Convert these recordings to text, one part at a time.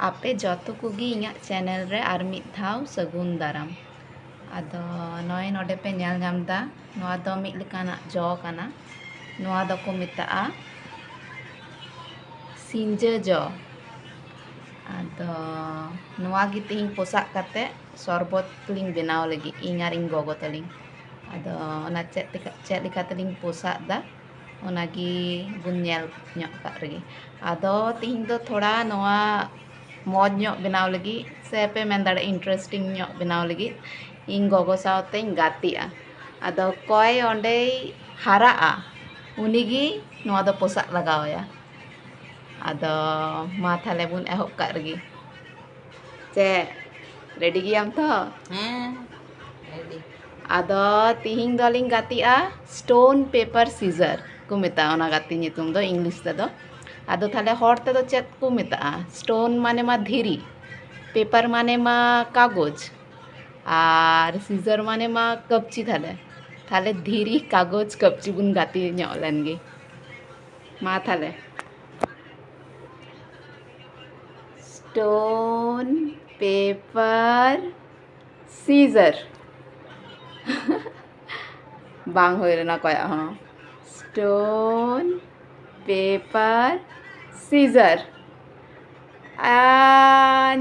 ᱟᱯᱮ ᱡᱚᱛᱚ ᱠᱚᱜᱮ ᱤᱧᱟᱹᱜ ᱪᱮᱱᱮᱞ ᱨᱮ ᱟᱨ ᱢᱤᱫ ᱫᱷᱟᱣ ᱥᱟᱹᱜᱩᱱ ᱫᱟᱨᱟᱢ ᱟᱫᱚ ᱱᱚᱜᱼᱚᱭ ᱱᱚᱰᱮ ᱯᱮ ᱧᱮᱞ ᱧᱟᱢ ᱮᱫᱟ ᱱᱚᱣᱟ ᱫᱚ ᱢᱤᱫ ᱞᱮᱠᱟᱱᱟᱜ ᱡᱚ ᱠᱟᱱᱟ ᱱᱚᱣᱟ ᱫᱚᱠᱚ ᱢᱮᱛᱟᱜᱼᱟ ᱥᱤᱧᱡᱟᱹ ᱡᱚ ᱟᱫᱚ ᱱᱚᱣᱟ ᱜᱮ ᱛᱮᱦᱮᱧ ᱯᱚᱥᱟᱜ ᱠᱟᱛᱮ ᱥᱚᱨᱵᱚᱛ ᱞᱤᱧ ᱵᱮᱱᱟᱣ ᱞᱟᱹᱜᱤᱫ ᱤᱧ ᱟᱨ ᱤᱧ ᱜᱚᱜᱚ ᱛᱟᱹᱞᱤᱧ ᱟᱫᱚ ᱚᱱᱟ ᱪᱮᱫ ᱞᱮᱠᱟ ᱪᱮᱫ ᱞᱮᱠᱟ ᱛᱮᱞᱤᱧ ᱯᱚᱥᱟᱜ ᱮᱫᱟ ᱚᱱᱟ ᱜᱮ ᱵᱚᱱ ᱧᱮᱞ ᱧᱚᱜ ᱠᱟᱜ ᱨᱮᱜᱮ ᱟᱫᱚ ᱛᱮᱦᱮᱧ ᱫᱚ ᱛᱷᱚᱲᱟ ᱱᱚᱣᱟ ᱢᱚᱡᱽ ᱧᱚᱜ ᱵᱮᱱᱟᱣ ᱞᱟᱹᱜᱤᱫ ᱥᱮ ᱯᱮ ᱢᱮᱱ ᱫᱟᱲᱮᱭᱟᱜᱼᱟ ᱤᱱᱴᱟᱨᱮᱥᱴᱤᱝ ᱧᱚᱜ ᱵᱮᱱᱟᱣ ᱞᱟᱹᱜᱤᱫ ᱤᱧ ᱜᱚᱜᱚ ᱥᱟᱶᱛᱮᱧ ᱜᱟᱛᱮᱜᱼᱟ ᱟᱫᱚ ᱚᱠᱚᱭ ᱚᱸᱰᱮᱭ ᱦᱟᱨᱟᱜᱼᱟ ᱩᱱᱤ ᱜᱮ ᱱᱚᱣᱟ ᱫᱚ ᱯᱚᱥᱟᱜ ᱞᱟᱜᱟᱣ ᱟᱭᱟ ᱟᱫᱚ ᱢᱟ ᱛᱟᱦᱞᱮ ᱵᱚᱱ ᱮᱦᱚᱵ ᱠᱟᱜ ᱨᱮᱜᱮ ᱪᱮᱫ ᱨᱮᱰᱤ ᱜᱮᱭᱟᱢ ᱛᱚ ᱦᱮᱸ ᱨᱮᱰᱤ ᱟᱫᱚ ᱛᱤᱦᱤᱧ ᱫᱚᱞᱤᱧ ᱜᱟᱛᱮᱜᱼᱟ ᱥᱴᱳᱱ ᱯᱮᱯᱟᱨ ᱥᱤᱡᱟᱨ ᱠᱚ ᱢᱮᱛᱟᱜᱼᱟ ᱚᱱᱟ ᱜᱟᱛᱮ ᱧᱩᱛᱩᱢ ᱫᱚ ᱤᱝᱞᱤᱥ ᱛᱮᱫᱚ ᱟᱫᱚ ᱛᱟᱦᱞᱮ ᱦᱚᱲ ᱛᱮᱫᱚ ᱪᱮᱫ ᱠᱚ ᱢᱮᱛᱟᱜᱼᱟ ᱥᱴᱳᱱ ᱢᱟᱱᱮ ᱢᱟ ᱫᱷᱤᱨᱤ ᱯᱮᱯᱟᱨ ᱢᱟᱱᱮ ᱢᱟ ᱠᱟᱜᱚᱡᱽ ᱟᱨ ᱥᱤᱡᱟᱨ ᱢᱟᱱᱮ ᱢᱟ ᱠᱟᱹᱯᱪᱤ ᱛᱟᱦᱞᱮ ᱛᱟᱦᱞᱮ ᱫᱷᱤᱨᱤ ᱠᱟᱜᱚᱡᱽ ᱠᱟᱹᱯᱪᱤ ᱵᱚᱱ ᱜᱟᱛᱮ ᱧᱚᱜ ᱞᱮᱱᱜᱮ ᱢᱟ ᱛᱟᱦᱞᱮ ᱥᱴᱳᱱ ᱯᱮᱯᱟᱨ ᱥᱤᱡᱟᱨ ᱵᱟᱝ ᱦᱩᱭ ᱞᱮᱱᱟ ᱚᱠᱚᱭᱟᱜ ᱦᱚᱸ ᱥᱴᱳᱱ ᱯᱮᱯᱟᱨ ᱥᱤᱡᱟᱨ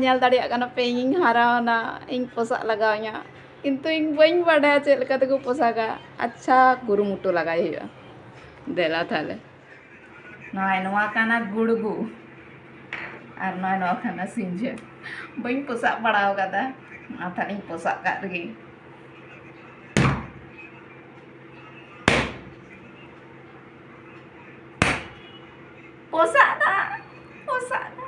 ᱧᱮᱞ ᱫᱟᱲᱮᱭᱟᱜ ᱠᱟᱱᱟ ᱯᱮ ᱤᱧᱤᱧ ᱦᱟᱨᱟᱣᱱᱟ ᱤᱧ ᱯᱚᱥᱟᱜ ᱞᱟᱜᱟᱣ ᱤᱧᱟ ᱠᱤᱱᱛᱩ ᱤᱧ ᱵᱟᱹᱧ ᱵᱟᱰᱟᱭᱟ ᱪᱮᱫ ᱞᱮᱠᱟ ᱛᱮᱠᱚ ᱯᱚᱥᱟᱜᱟ ᱟᱪᱪᱷᱟ ᱠᱩᱨᱩᱢᱩᱴᱩ ᱞᱟᱜᱟᱭ ᱦᱩᱭᱩᱜᱼᱟ ᱫᱮᱞᱟ ᱛᱟᱦᱞᱮ ᱱᱚᱣᱟ ᱱᱚᱣᱟ ᱠᱟᱱᱟ ᱜᱩᱲᱜᱩ ᱟᱨ ᱱᱚᱣᱟ ᱱᱚᱣᱟ ᱠᱟᱱᱟ ᱥᱤᱧᱡᱟᱹ ᱵᱟᱹᱧ ᱯᱚᱥᱟᱜ ᱵᱟᱲᱟᱣ ᱠᱟᱫᱟ ᱚᱱᱟ ᱛᱟᱦᱞᱮᱧ ᱯᱚᱥᱟᱜ ᱠᱟᱜ ᱨᱮᱜᱮ ᱯᱚᱥᱟᱜ ᱫᱟ ᱯᱚᱥᱟᱜ ᱫᱟ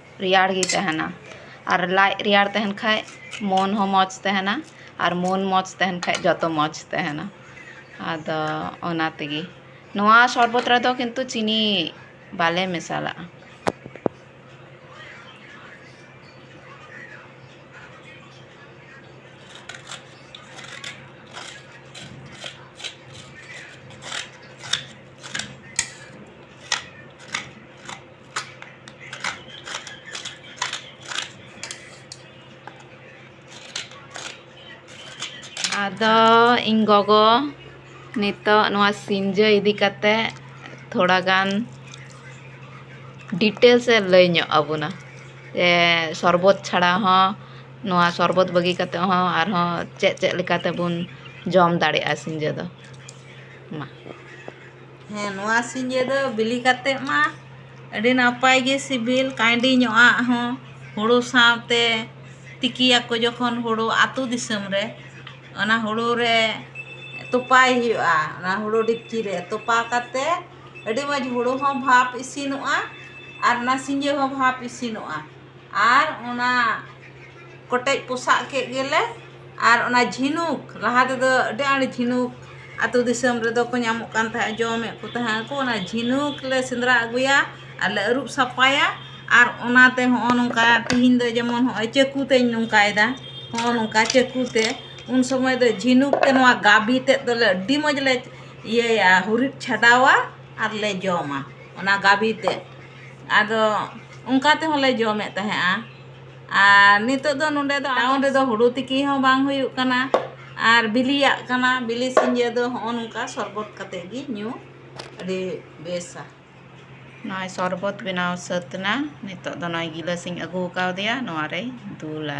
ᱨᱮᱭᱟᱲ ᱜᱮ ᱛᱟᱦᱮᱱᱟ ᱟᱨ ᱞᱟᱡ ᱨᱮᱭᱟᱲ ᱛᱟᱦᱮᱱ ᱠᱷᱟᱡ ᱢᱚᱱ ᱦᱚᱸ ᱢᱚᱡᱽ ᱛᱟᱦᱮᱱᱟ ᱟᱨ ᱢᱚᱱ ᱢᱚᱡᱽ ᱛᱟᱦᱮᱱ ᱠᱷᱟᱡ ᱡᱚᱛᱚ ᱢᱚᱡᱽ ᱛᱟᱦᱮᱱᱟ ᱟᱫᱚ ᱚᱱᱟ ᱛᱮᱜᱮ ᱱᱚᱣᱟ ᱥᱚᱨᱵᱚᱛ ᱨᱮᱫᱚ ᱠᱤᱱᱛᱩ ᱪᱤᱱᱤ ᱵᱟᱞᱮ ᱢᱮᱥᱟᱞᱟᱜᱼᱟ ᱟᱫᱚ ᱤᱧ ᱜᱚᱜᱚ ᱱᱤᱛᱚᱜ ᱱᱚᱣᱟ ᱥᱤᱧᱡᱟᱹ ᱤᱫᱤ ᱠᱟᱛᱮ ᱛᱷᱚᱲᱟ ᱜᱟᱱ ᱰᱤᱴᱮᱞᱥ ᱮ ᱞᱟᱹᱭ ᱧᱚᱜ ᱟᱵᱚᱱᱟ ᱡᱮ ᱥᱚᱨᱵᱚᱛ ᱪᱷᱟᱲᱟ ᱦᱚᱸ ᱱᱚᱣᱟ ᱥᱚᱨᱵᱚᱛ ᱵᱟᱹᱜᱤ ᱠᱟᱛᱮ ᱦᱚᱸ ᱟᱨᱦᱚᱸ ᱪᱮᱫ ᱪᱮᱫ ᱞᱮᱠᱟ ᱛᱮᱵᱚᱱ ᱡᱚᱢ ᱫᱟᱲᱮᱭᱟᱜᱼᱟ ᱥᱤᱧᱡᱟᱹ ᱫᱚ ᱢᱟ ᱦᱮᱸ ᱱᱚᱣᱟ ᱥᱤᱸᱡᱳ ᱫᱚ ᱵᱤᱞᱤ ᱠᱟᱛᱮᱫ ᱢᱟ ᱟᱹᱰᱤ ᱱᱟᱯᱟᱭ ᱜᱮ ᱥᱤᱵᱤᱞ ᱠᱟᱺᱭᱰᱤ ᱧᱚᱜ ᱟᱜ ᱦᱚᱸ ᱦᱩᱲᱩ ᱥᱟᱶᱛᱮ ᱛᱤᱠᱤᱭᱟᱠᱚ ᱡᱚᱠᱷᱚᱱ ᱦᱩᱲᱩ ᱟᱹᱛᱩ ᱫᱤᱥᱚᱢ ᱨᱮ ᱚᱱᱟ ᱦᱩᱲᱩ ᱨᱮ ᱛᱚᱯᱟᱭ ᱦᱩᱭᱩᱜᱼᱟ ᱚᱱᱟ ᱦᱩᱲᱩ ᱰᱮᱠᱪᱤ ᱨᱮ ᱛᱚᱯᱟ ᱠᱟᱛᱮᱫ ᱟᱹᱰᱤ ᱢᱚᱡᱽ ᱦᱩᱲᱩ ᱦᱚᱸ ᱵᱷᱟᱯ ᱤᱥᱤᱱᱚᱜᱼᱟ ᱟᱨ ᱚᱱᱟ ᱥᱤᱸᱡᱳ ᱦᱚᱸ ᱵᱷᱟᱯ ᱤᱥᱤᱱᱚᱜᱼᱟ ᱟᱨ ᱚᱱᱟ ᱠᱚᱴᱮᱡ ᱯᱚᱥᱟᱜ ᱠᱮᱫ ᱜᱮᱞᱮ ᱟᱨ ᱚᱱᱟ ᱡᱷᱤᱱᱩᱠ ᱞᱟᱦᱟ ᱛᱮᱫᱚ ᱟᱹᱰᱤ ᱟᱸᱴ ᱡᱷᱤᱱᱩᱠ ᱟᱹᱛᱩ ᱫᱤᱥᱚᱢ ᱨᱮᱫᱚ ᱠᱚ ᱧᱟᱢᱚᱜ ᱠᱟᱱ ᱛᱟᱦᱮᱸᱫ ᱡᱚᱢᱮᱫ ᱠᱚ ᱛᱟᱦᱮᱸᱫ ᱠᱚ ᱚᱱᱟ ᱡᱷᱤᱱᱩᱠ ᱞᱮ ᱥᱮᱸᱫᱽᱨᱟ ᱟᱹᱜᱩᱭᱟ ᱟᱨ ᱞᱮ ᱟᱹᱨᱩᱵ ᱥᱟᱯᱷᱟᱭᱟ ᱟᱨ ᱚᱱᱟᱛᱮ ᱦᱚᱸᱜᱼᱚ ᱱᱚᱝᱠᱟ ᱛᱮᱦᱮᱧ ᱫᱚ ᱡᱮᱢᱚᱱ ᱱᱚᱜᱼᱚᱭ ᱪᱟᱹᱠᱩ ᱛᱤᱧ ᱱᱚᱝᱠᱟᱭᱫᱟ ᱦᱚᱸᱜᱼᱚ ᱱᱚᱝᱠᱟ ᱪᱟᱹᱠᱩ ᱛᱮ ᱩᱱ ᱥᱚᱢᱚᱭ ᱫᱚ ᱡᱷᱤᱱᱩᱠ ᱛᱮ ᱱᱚᱣᱟ ᱜᱟᱵᱮ ᱛᱮᱫ ᱫᱚᱞᱮ ᱟᱹᱰᱤ ᱢᱚᱡᱽ ᱞᱮ ᱤᱭᱟᱹᱭᱟ ᱦᱩᱨᱤᱫ ᱪᱷᱟᱰᱟᱣᱟ ᱟᱨ ᱞᱮ ᱡᱚᱢᱟ ᱚᱱᱟ ᱜᱟᱵᱮ ᱛᱮᱫ ᱟᱫᱚ ᱚᱱᱠᱟ ᱛᱮᱦᱚᱸ ᱞᱮ ᱡᱚᱢᱮᱫ ᱛᱟᱦᱮᱸᱫᱼᱟ ᱟᱨ ᱱᱤᱛᱚᱜ ᱫᱚ ᱱᱚᱰᱮ ᱫᱚ ᱴᱟᱣᱩᱱ ᱨᱮᱫᱚ ᱦᱩᱲᱩ ᱛᱤᱠᱤ ᱦᱚᱸ ᱵᱟᱝ ᱦᱩᱭᱩᱜ ᱠᱟᱱᱟ ᱟᱨ ᱵᱤᱞᱤᱭᱟᱜ ᱠᱟᱱᱟ ᱵᱤᱞᱤ ᱥᱤᱸᱡᱳ ᱫᱚ ᱦᱚᱸᱜᱼᱚ ᱱᱚᱝᱠᱟ ᱥᱚᱨᱵᱚᱛ ᱠᱟᱛᱮ ᱜᱮ ᱧᱩ ᱟᱹᱰᱤ ᱵᱮᱥᱟ ᱱᱚᱜᱼᱚᱭ ᱥᱚᱨᱵᱚᱛ ᱵᱮᱱᱟᱣ ᱥᱟᱹᱛ ᱮᱱᱟ ᱱᱤᱛᱚᱜ ᱫᱚ ᱱᱚᱜᱼᱚᱭ ᱜᱤᱞᱟᱹᱥᱤᱧ ᱟᱹᱜᱩ ᱠᱟᱣᱫᱮᱭᱟ ᱱᱚᱣᱟ ᱨᱮᱭ ᱫᱩᱞᱟ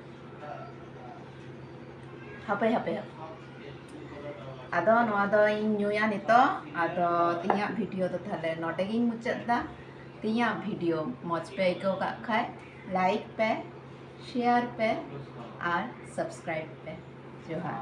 ᱦᱟᱯᱮ ᱦᱟᱯᱮ ᱦᱟᱯᱮ ᱟᱫᱚ ᱱᱚᱣᱟ ᱫᱚᱧ ᱧᱩᱭᱟ ᱱᱤᱛᱚᱜ ᱟᱫᱚ ᱛᱮᱦᱮᱧᱟᱜ ᱵᱷᱤᱰᱤᱭᱳ ᱫᱚ ᱛᱟᱦᱞᱮ ᱱᱚᱰᱮ ᱜᱤᱧ ᱢᱩᱪᱟᱹᱫ ᱫᱟ ᱛᱮᱦᱮᱧᱟᱜ ᱵᱷᱤᱰᱤᱭᱳ ᱢᱚᱡᱽ ᱯᱮ ᱟᱹᱭᱠᱟᱹᱣ ᱠᱟᱜ ᱠᱷᱟᱡ ᱞᱟᱭᱤᱠ ᱯᱮ ᱥᱮᱭᱟᱨ ᱯᱮ ᱟᱨ ᱥᱟᱵᱥᱠᱨᱟᱭᱤᱵ ᱯᱮ ᱡᱚᱦᱟᱨ